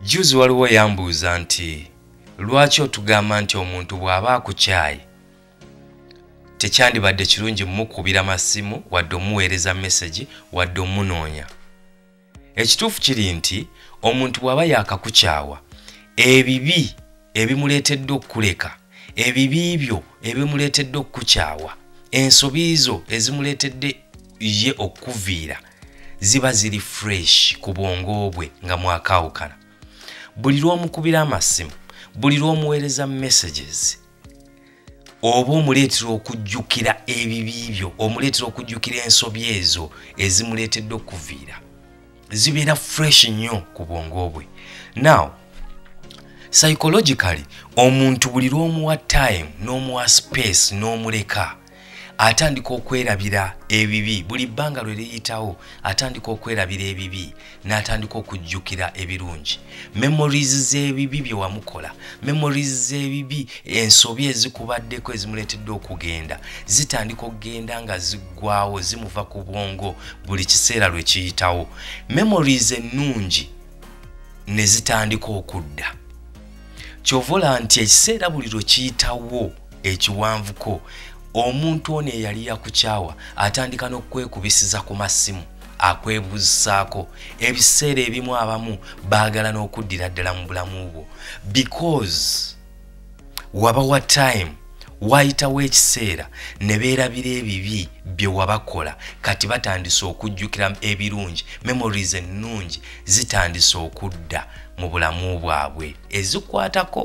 juzi waliwo yambuuza nti lwaki otugamba nti omuntu bw'aba akukyaye tekyandibadde kirungi mukubira masimu wadde omuweereza mesegi wadde omunoonya ekituufu kiri nti omuntu bw'aba yakakukyawa ebibi ebimuleetedde okukuleka ebibi byo ebimuleetedde okukukyawa ensobi zo ezimuleetedde ye okukuviira ziba ziri fresh ku bwongo bwe nga mwakaawukana buli lw'omukubira amasimu buli lw'omuweereza messages oba omuleetera okujjukira ebibi byo omuleetera okujjukira ensobi ezo ezimuleetedde okuviira zibeera fresh nnyo ku bwongo bwe now psychologically omuntu buli lw'omuwa time n'omuwa space n'omuleka atandika okwerabira ebibi buli bbanga lwe liyitawo atandika okwerabira ebibi n'atandika okujjukira ebirungi memories z'ebibi bye wamukola memories z'ebibi ensobi ezikubaddeko ezimuleetedde okugenda zitandika okugenda nga ziggwawo zimuva ku bwongo buli kiseera lwe kiyitawo memories ennungi ne zitandika okudda kyovola nti ekiseera buli lwe kiyitawo ekiwanvuko omuntu ono eyali yakukyawa atandika n'okukwekubisiza ku masimu akwebuuzisaako ebiseera ebimu abamu baagala n'okuddira ddala mu bulamu bwo because waba wa time waayitawo ekiseera ne beerabira ebibi bye wabakola kati batandise okujjukira ebirungi memories ennungi zitandise okudda mu bulamu bwabwe ezikwatako